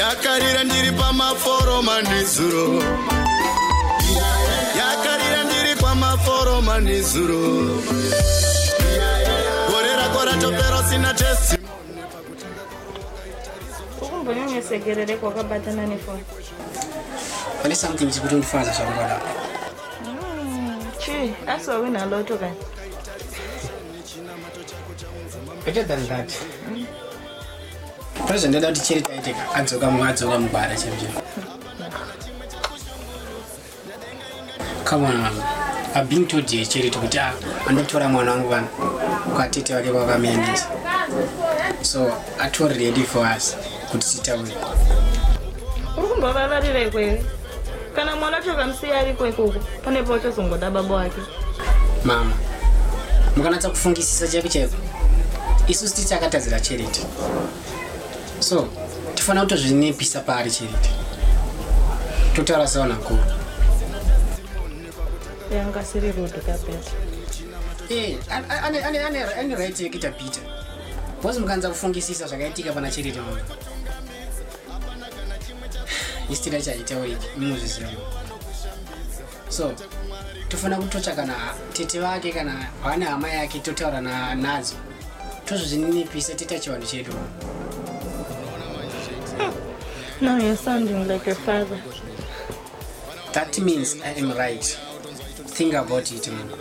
yakarira ndiri pamaforoma nezuro yakarira ndiri kwamaforoma nezuro gore rako ratopera usina testi ukumbonyanyesekerere kwakabatana nefoni pane something chikuti ndifana zvakungwada hmm, chii asi wawina loto kani better than that pane zvandada kuti chiri taiteka adzoka mumwe adzoka mugwara chaizvo come on mama i've been told here chiri tikuti a ah, andotora mwana wangu vanhu kwatete vake kwakamuendesa so atori ready for us kuti titaure uri kumbovavarira ikwere kana mwana chokamusiya ari kwekoko pane pauchazongoda baba wake mama mukanatsa kufungisisa chaiko chaiko isu siti takatadzira charity so tifanira kutozvinipisa paari charity totaura sevanhu vakuru yanga siri rudu kabeta Eh, an- an- ane- ane- ane- ane right yekuita peter bcause mukanza kufungisisa zvakaitika pana chiriti mama istira chaitauriki munozviziva mama. so tofanira kutotsva kana tete vake kana hwana hama yake totaura nadzo tozvozvininipisa tita chivanhu chedu Now you're sounding like a father. That means I am right. Think about it, man.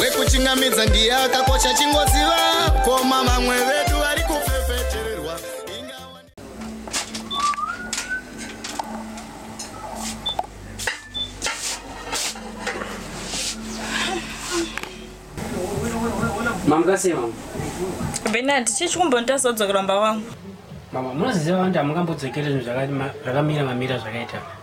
wekuchingamidza ndiye akakocha chingoziva koma vamwe vedu vari kufefetererwa mamukasei mama benard chii chikumbondirasa kudzokera mumba wangu mama munoziziva vanhu hamungambodzokeri zvinhu zvaka- ma- zvakamira mamira zvakaita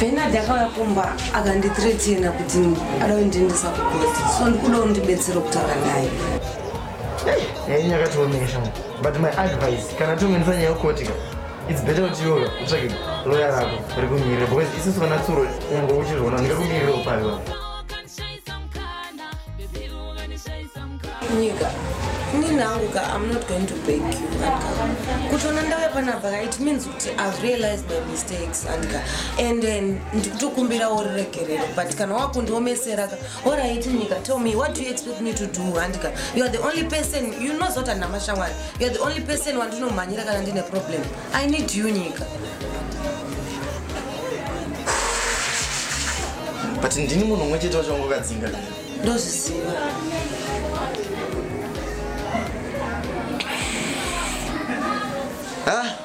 Bernard akauya kumba akandithreatena kuti ada kundiendesa kugoti so ndikuda undibetsera kutaura naye nyaya yakatiomeka shanga but my advice kana tongenisa nyaya yokotika its better kuti yoga utsvake loya rako rikumirira because isusu vana tsuro unge uchizviona ndingakumirira upavi wako nyika ini nangu ka i'm not going to beg you kutona ndave panapa ka it means kuti i've realized my mistakes andika and then ndikutokumbira uriregerero but kana wakundiomesera ka orit nyika tell me what do you expect me to do andika youare the only person you know zoti andina mashamwari youare the only person wandinomhanyira kana ndine problem I need you nyika. But ndini munhu umwe chete wachongo kadzinga. Ndozviziva. Ah.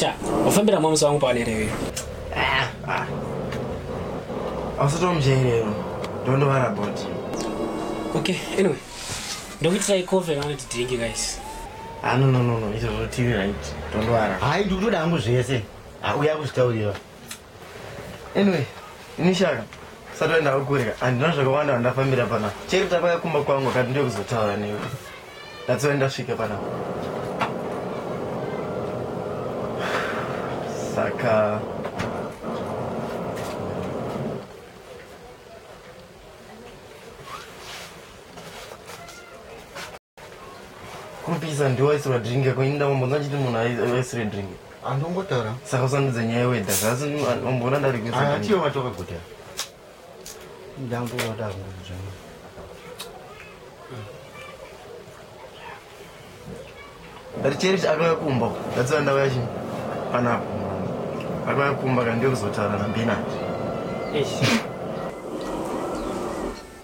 sha wafambira mwamusi wangu pawanerewe ausatomjairero ndondovara bot okay anyway ndokuitirai cofe kana kuti drink guys anononono ah, izvo zvotivi right ndondovara hai ndikutoda hangu zvese auya kuzvitaurira anyway inishaka sati waenda kukurika handina zvakawanda vandafambira pana cheri tapaya kumba kwangu akati ndokuzotaura newe that's why ndasvika pana saka Kurupisa ndiwo aisirwa drink yako ini ndambombonza achiti munhu aisire drink. Andongotaura. Saka usandudze nyaya yewedha zvasi umboona ndari kuisa. Ah, atiyo vatoka kuti. Ndangova ndakuzwa. Richerish akauya kumba. That's why ndauya chi. Panapo. Akauya kumba kandiyo kuzotaura na Benard. Eish.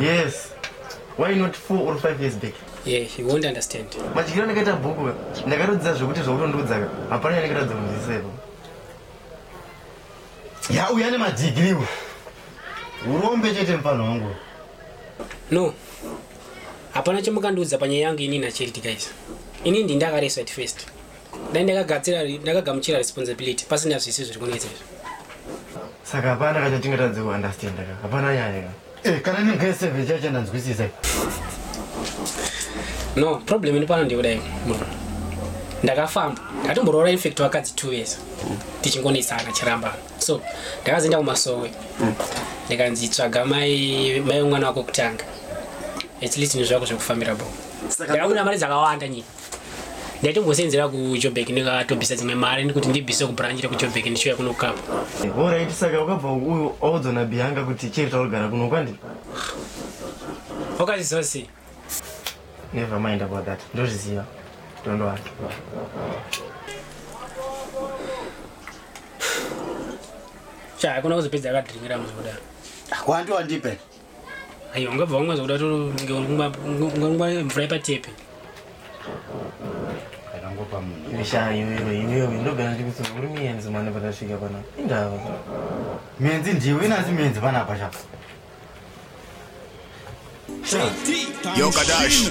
Yes. Why not 4 or 5 years back? Yeah, he won't understand. Madyiro andakaita bhuku ka. Ndakatodzidza zvekuti zvokutondiudza ka. Hapana yandakatadza kunzwisisa ipo. Ya uya ne madigiri uyu. Urombe chete mfana wangu. No. Hapana chamukandiudza panyaya yangu ini na Charity guys. Ini ndi ndakareswa at first. Dai ndakagadzira ndakagamuchira responsibility pasina zvisi zviri kunetsa izvi. Saka hapana kachatingatadze kuunderstand ka. Hapana nyaya ka. Eh, kana ni grade 7 chacha ndanzwisisa. No, problem ini pano ndikudai. Ndakafamba. Ndakatomboroora in fact wakadzi two years. Tichingonesana chiramba. So, ndakazoenda kumasowe. Ndikanzi tsvaga mai mai mwana wako kutanga. At least ndizvako zvekufambira bo. Saka Ndakabuda mari dzakawanda nyika. ndaitombosenzera kujobek ndikatobvisa dzimwe mari kuti ndibvise kubranch rekujobek ndichiuya kuno kapa orit saka ukabva uyu audzwa nabianga kuti chiri taurigara kuno kwandi okaziziva sei never mind about that ndozviziva tondoa cha hakuna kuzopedza akadringira muzodaro kwandiwandipe aiwa ungabva wamwa zvakuda tongangwa mvura yepatepe akangopa munhu ishaa iwewe iwewe ndogara ndikutsura uri miyenzi mane patasvika pana indava menzi ndiwe inasi menzi panapa shaka Yo, Kadash.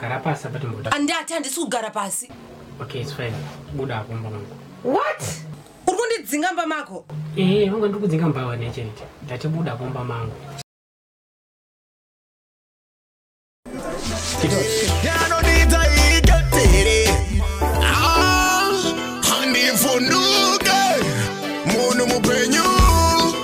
Gara pasi apa timboda. Andati handisi kugara pasi. Okay, it's fine. Buda hapo mba mangu. What? Uri kundidzinga mba mako? Eh, wangu ndiri kudzinga mba wane chete. Ndati buda hapo mba mangu. Yanonita iketere. Ah, handivhunduke. Munhu mupenyu.